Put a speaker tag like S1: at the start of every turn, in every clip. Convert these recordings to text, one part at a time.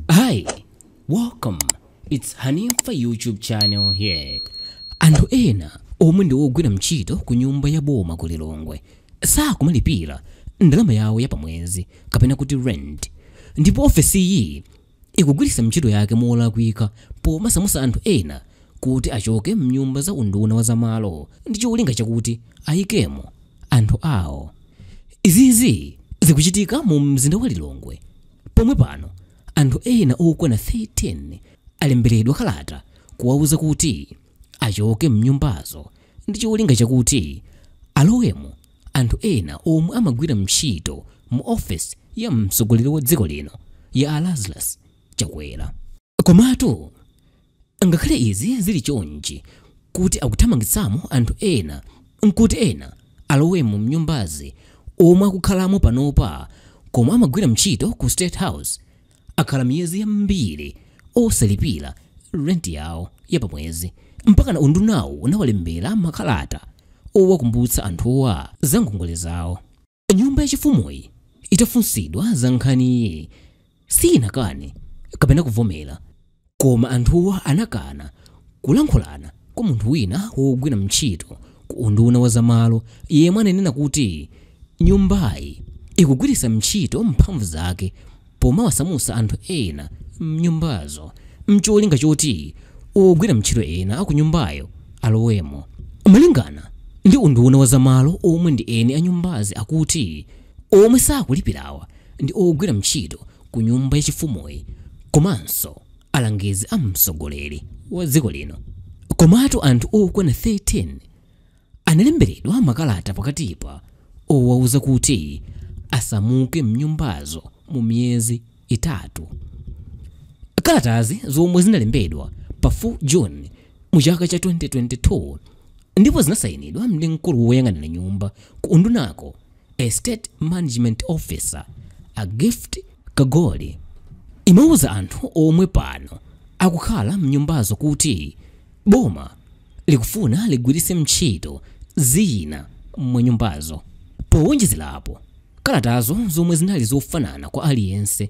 S1: Hi, welcome. It's Hanifa YouTube channel here. Anthu ena omwe ndi ogwira ntchito ku nyumba ya boma ku Lilongwe sakumalipira ndalama yawo ya pamwezi kapena kuti rent, ndipo ofesiyi ikugwiritsa ntchito yake molakwika pomasamusa anthu ena kuti achoke mnyumba za unduna wa zamalo ndi cholinga chakuti ayikemo anthu awo. Izizi zikuchitika mu mzinda wa Lilongwe Pomwe pano anthu ena okwana 13 alemberedwa kalata kuwauza kuti achoke mnyumbazo ndi cholinga chakuti alowemo anthu ena omwe amagwira mtchito mu office ya mtsogoleri wa dziko lino ya a Lazarus Chakwera. Komatu ngakhale izi zili chonchi kuti akuthamangitsamo anthu ena nkuti ena alowemo m'nyumbazi omwe akukhalamo panopa koma amagwira mtchito ku State House akhala miyezi yambiri osalipira rent yawo ya pamwezi mpakana undunawu unawalembera makalata owakumbutsa anthuwa za ngongole zawo. Nyumba yachifumuyi itafunsidwa za nkhaniyi sinakane kapena kuvomera, koma anthuwa anakana kulankhulana kwa munthu wina wogwira ntchito ku unduna wa zamalo yemwe ananena kuti nyumbayi ikugwiritsa ntchito mphamvu zake pomawasamutsa anthu ena m'nyumbazo n'cholinga choti ogwira ntchito ena a kunyumbayo alowemo. Malingana ndi unduna wa za malo omwe ndi eni a nyumbazi akuti omwe sakulipirawa ndi ogwira ntchito ku nyumba ya chifumuyi komanso alangizi a mtsogoleri wa dziko lino. Komatu anthu okwana 13. Analemberedwa makalata pakatipa owauza kuti asamuke m'nyumbazo mu miyezi itatu. Kalatazi zomwe zinalembedwa pa 4 June mu chaka cha 2022 ndipo zinasainidwa ndi mkulu woyang'anira nyumba ku undunako, Estate Management Officer, a Gift Kagoli, imauza anthu omwe pano akukhala m'nyumbazo kuti boma likufuna ligwiritse ntchito zina mwa nyumbazo. Powonjezerapo, kalatazo zomwe zinali zofanana kwa aliyense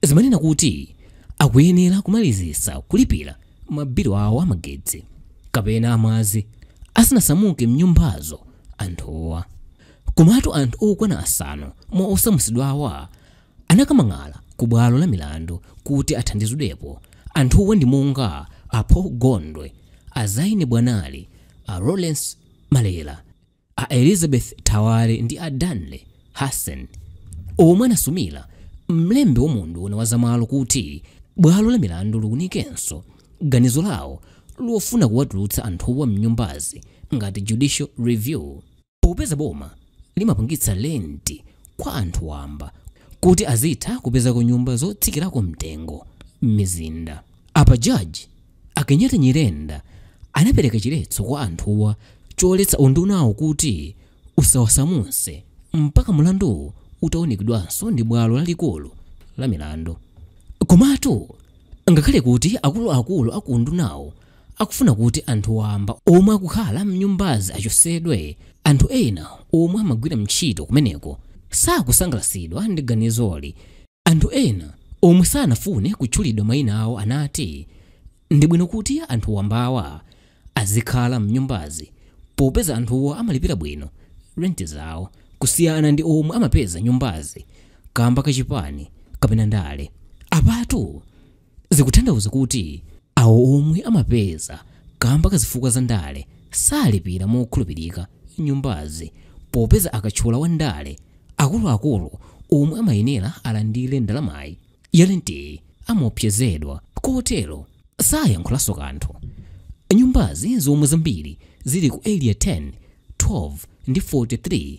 S1: zimanena kuti akuyenera kumalizitsa kulipira mabilu awo a magetsi kapena amadzi asanasamuke m'nyumbazo anthuwa. Komatu anthu okwana asanu mwa osamutsidwawa anakamang'ala ku bwalo la milandu kuti athandizidwepo. Anthuwa ndi monga a Paul Gondwe, a Zaine Bwanali, a Lawrence Malera, a Elizabeth Thawale ndi a Danley Hassan omwe anasumira mlembi wa unduna wa zamalo kuti bwalo la milandu liunikenso ganizo lawo lofuna kuwatulutsa anthuwa m'nyumbazi ngati judicial review. Popeza boma limapangitsa lenti kwa anthu wamba kuti azitha kupezako nyumba zotsikirako mtengo m'mizinda, apa Jaji a Kenyatta Nyirenda anapereka chiletso kwa anthuwa choletsa undunawu kuti usawasamutse mpaka mlanduwu utaunikidwanso ndi bwalo lalikulu la milandu. Komatu ngakhale kuti akuluakulu a ku undunawu akufuna kuti anthu wamba omwe akukhala m'nyumbazi achotsedwe. Anthu ena omwe amagwira ntchito kumeneko sakusangalatsidwa ndi ganizoli. Anthu ena omwe sanafune kutchulidwa mayina awo anati, Ndi bwino kuti anthu wambawa azikhala m'nyumbazi popeza anthuwa amalipira bwino renti zawo kusiyana ndi omwe amapeza nyumbazi kamba ka chipani kapena ndale. Apatu zikutanthauza kuti awo omwe amapeza kamba ka zifukwa za ndale salipira mokhulupirika nyumbazi popeza akatchula wa ndale akuluakulu omwe amayenera alandire ndalamayi ya lenti amaopsezedwa kotero sayankhulanso kanthu nyumbazi zomwe zambiri zili ku area 10 12 ndi 43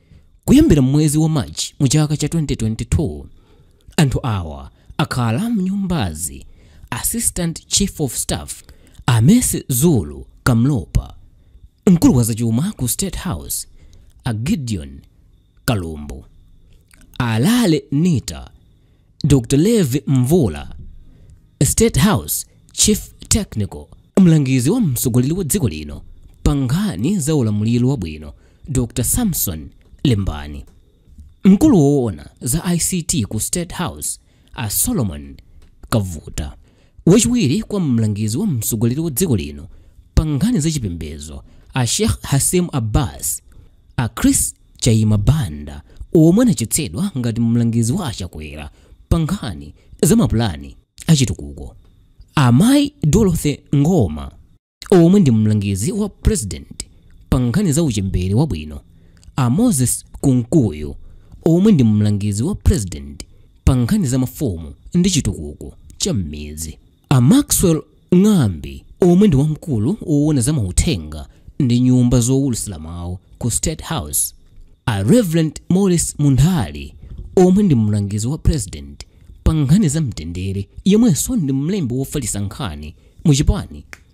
S1: Kuyambira mwezi wa March mu chaka cha 2022, anthu awa akhala mnyumbazi Assistant Chief of Staff a Mercy Zulu Kamlopa, mkulu wa zachuma ku State House a Gideon Kalumbu, Alale Nita Dr. Levi Mvula, State House Chief Technical, mlangizi wa mtsogoleri wa dziko lino pa nkhani za ulamuliro wabwino Dr. Samson Lembani, mkulu woona za ICT ku State House a Solomon Kavuta, wachiwiri kwa mlangizi wa mtsogoleri wa dziko lino pa nkhani za chipembedzo a Sheikh Hashim Abbas, a Chris Chaima Banda omwe anachotsedwa ngati mlangizi wa a Chakwera pa nkhani za mapulani a chitukuko, a Mayi Dorothy Ngoma omwe ndi mlangizi wa President pa nkhani za uchembere wabwino, a Moses Kunkuyu omwe ndi mlangizi wa President pa nkhani za mafumu ndi chitukuko cha m'midzi. A Maxwell Ng'ambi omwe ndi wamkulu woona za mauthenga ndi nyumba zowulutsira mawu ku State House, a Rev. Maurice Munthali omwe ndi mlangizi wa Purezidenti pa nkhani za mtendere yemwenso ndi mlembi wofalitsa nkhani mu chipani,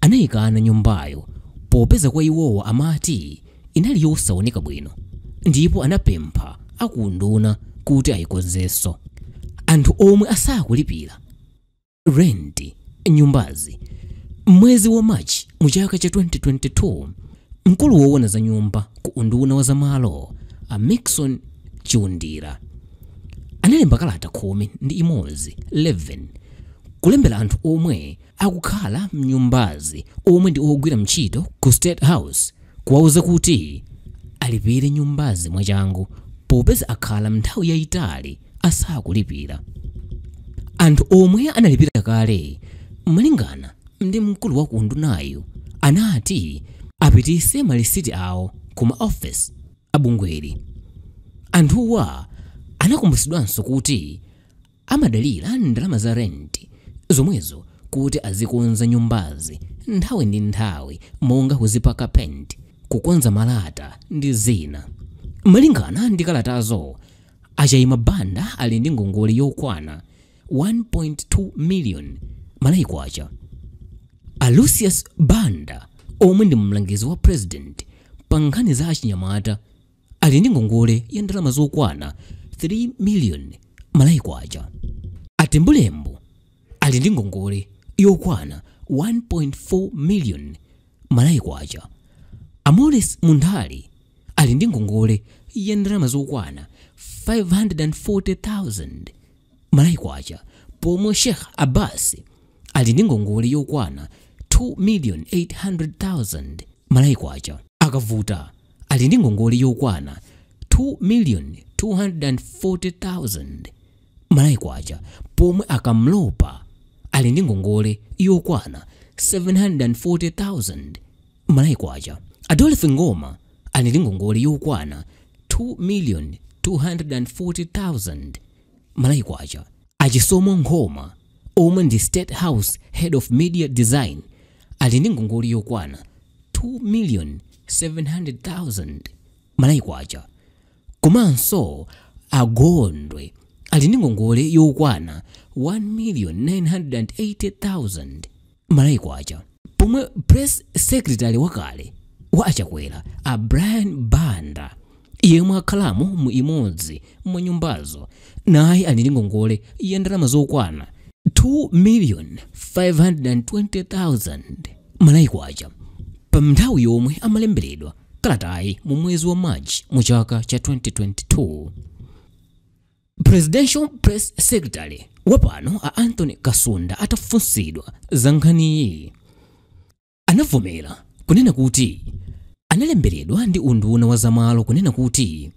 S1: Anaikana nyumbayo popeza kwa iwowa amati inali yosaoneka bwino ndipo anapempha a ku unduna kuti aikonzenso. Anthu omwe asakulipira rent nyumbazi m'mwezi wa March mu chaka cha 2022, mkulu woona za nyumba ku unduna wa za malo a Mixon Chiundira analemba kalata khumi ndi imodzi 11 kulembera anthu omwe akukhala m'nyumbazi omwe ndi ogwira ntchito ku State House kuwauza kuti alipire nyumbazi mwachangu popeza akhala nthawi yayitali asakulipira anthu omwe analipira kale malingana ndi mkulu wa ku undunayu anati apititse malisiti awo ku maofesi a bungweli anthuwa anakumbutsidwanso kuti Amadalira ndalama za rent zomwezo kuti azikonza nyumbazi nthawi ndi nthawi monga kuzipaka paint, kukonza malata ndi zina. Malingana ndi kalatazo, a Chaima Banda ali ndi ngongole yokwana 1.2 million Malawi Kwacha. A Lucius Banda omwe ndi mlangizi wa President pa nkhani za achinyamata, ali ndi ngongole ya ndalama zokwana 3 miliyoni Malawi Kwacha a Tembulembo ali ndi ngongole yokwana 1.4 miliyoni Malawi Kwacha a Maurice Munthali ali ndi ngongole ya ndalama zokwana 540,000 Malawi Kwacha pomwe Sheikh Abbas ali ndi ngongole yokwana 2,800,000 Malawi Kwacha a Kavuta ali ndi ngongole yokwana 2,240,000 Malawi Kwacha pomwe a Kamlopa ali ndi ngongole yokwana 740,000 Malawi Kwacha a Dorothy Ngoma ali ndi ngongole yokwana 2,240,000 Malawi Kwacha. A Chisomo Nkhoma omwe ndi State House Head of Media Design ali ndi ngongole yokwana 2,700,000 Malawi Kwacha. Komanso a Gondwe ali ndi ngongole yokwana 1,980,000 malawi kwacha pomwe press secretary wakale wa achakwera a brian banda yemwe akhalamo mu imodzi mwa nyumbazo naye ali ndi ngongole ya ndalama zokwana 2,520,000 malawi kwacha pa nthawi yomwe amalemberedwa kalatayi mu mwezi wa march mu chaka cha 2022 presidential press secretary wapano a anthony kasunda atafunsidwa za nkhaniyi anavomera kunena kuti analemberedwa ndi unduna wa zamalo kunena kuti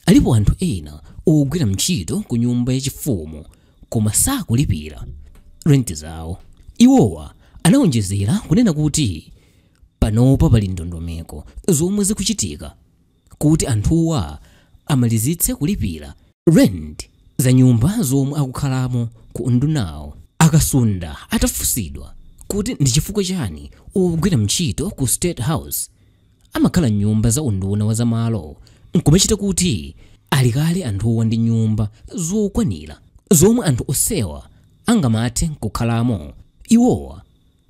S1: alipo anthu ena ogwira ntchito ku nyumba yachifumu koma sakulipira rent zawo iwowa anawonjezera kunena kuti panopa pali ndondomeko zomwe zikuchitika kuti anthuwa amalizitse kulipira rent za nyumba zomwe akukhalamo ku undunawo. A Kasunda atafunsidwa kuti ndi chifukwa chani ogwira ntchito ku State House amakhala m'nyumba za unduna wa zamalo nkumachita kuti ali kale anthuwa ndi nyumba zokwanira zomwe anthu onsewa angamathe nkukhalamo, iwowa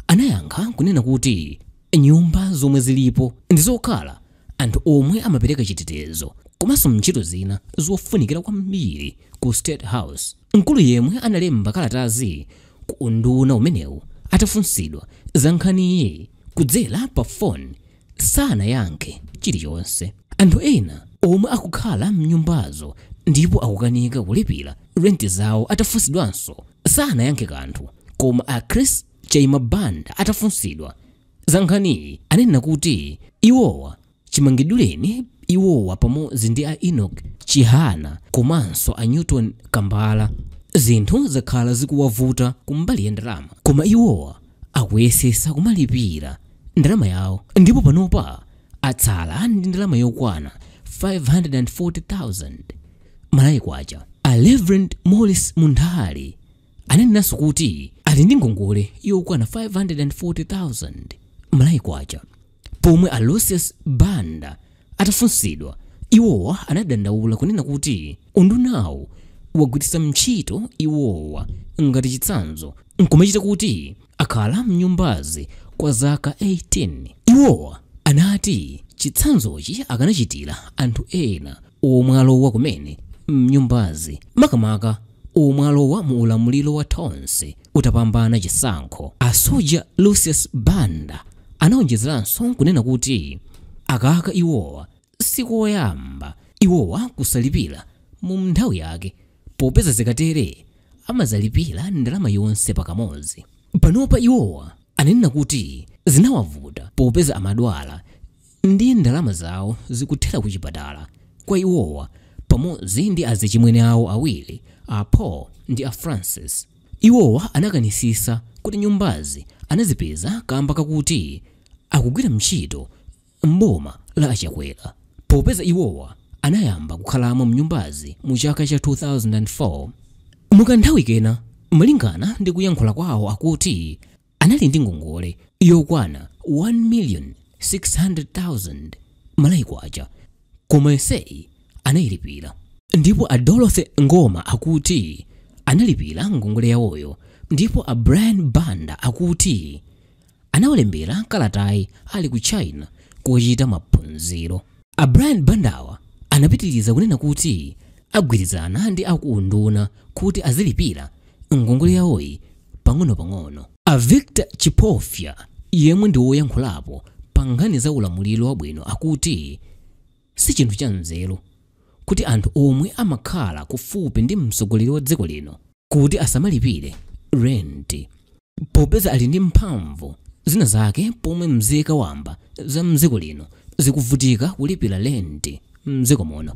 S1: Anayankha kunena kuti, Nyumba zomwe zilipo ndi zokhala anthu omwe amapereka chitetezo komanso ntchito zina zofunikira kwambiri ku State House. Mkulu yemwe analemba kalatazi ku unduna umenewu atafunsidwa za nkhaniyi kudzera pa foni, sanayankhe chilichonse. Anthu ena omwe akukhala m'nyumbazo ndipo akukanika kulipira rent zawo atafunsidwanso sanayankhe kanthu. Koma a Chris Chaima Banda atafunsidwa za nkhaniyi anena kuti iwowa chimangidwireni iwowa pamodzi ndi a Enock Chihana komanso a Newton Kambala zinthu zakhala zikuwavuta kumbali ya ndalama koma iwowa akuyesetsa kumalipira ndalama yawo ndipo panopa atsala ndi ndalama yokwana 540,000 malawi kwacha a reverend morris munthali anenanso kuti ali ndi ngongole yokwana 540,000 malawi kwacha Pomwe a Lucius Banda atafunsidwa, iwowa anadandaula kunena kuti undunawo wagwiritsa ntchito iwowa ngati chitsanzo nkumachita kuti akhala mnyumbazi kwa zaka 18. Iwowa anati chitsanzochi akanachitira anthu ena omwe alowa kumene mnyumbazi, makamaka omwe alowa mu ulamuliro wa Tonse. utapambana chisankho. A Soja Lucius Banda anaonjezeranso nkunena kuti akaka iwowa sikoyamba iwowa kusalipira mu nthawi yake popeza zikatere amazalipira ndalama yonse pakamodzi. Panopa iwowa ananena kuti zinawavuta popeza amadwala ndi ndalama zawo zikuthera ku chipatala kwa iwowa pamodzi ndi azichimwene awo awiri a paul ndi a francis iwowa anakanitsitsa kuti nyumbazi anazipeza kamba kakuti akugwira ntchito mboma la achakwera popeza iwowa anayamba kukhalamo mnyumbazi mu chaka cha 2004 mukanthawi kena malingana ndi kuyankhula kwawo akuti anali ndi ngongole yokwana 1,600,000 Malawi kwacha koma yonseyi anayilipira ndipo a dorothy ngoma akuti analipira ngongole yawoyo ndipo a brian banda akuti anawalembera kalatayi ali ku china kuchita maphunziro A Brian Bandawa anapitiriza kunena kuti agwirizana ndi aku unduna kuti azilipira ngongole yawoyi pang'onopang'ono. A Victor Chipofya yemwe ndi woyankhulapo pa nkhani za ulamuliro wabwino akuti si chinthu cha nzeru kuti anthu omwe amakhala kufupi ndi mtsogoleri wa dziko lino, kuti asamalipire renti popeza ali ndi mphamvu zina zake pomwe mzika wamba za mdziko lino zikuvutika kulipira renti mdziko muno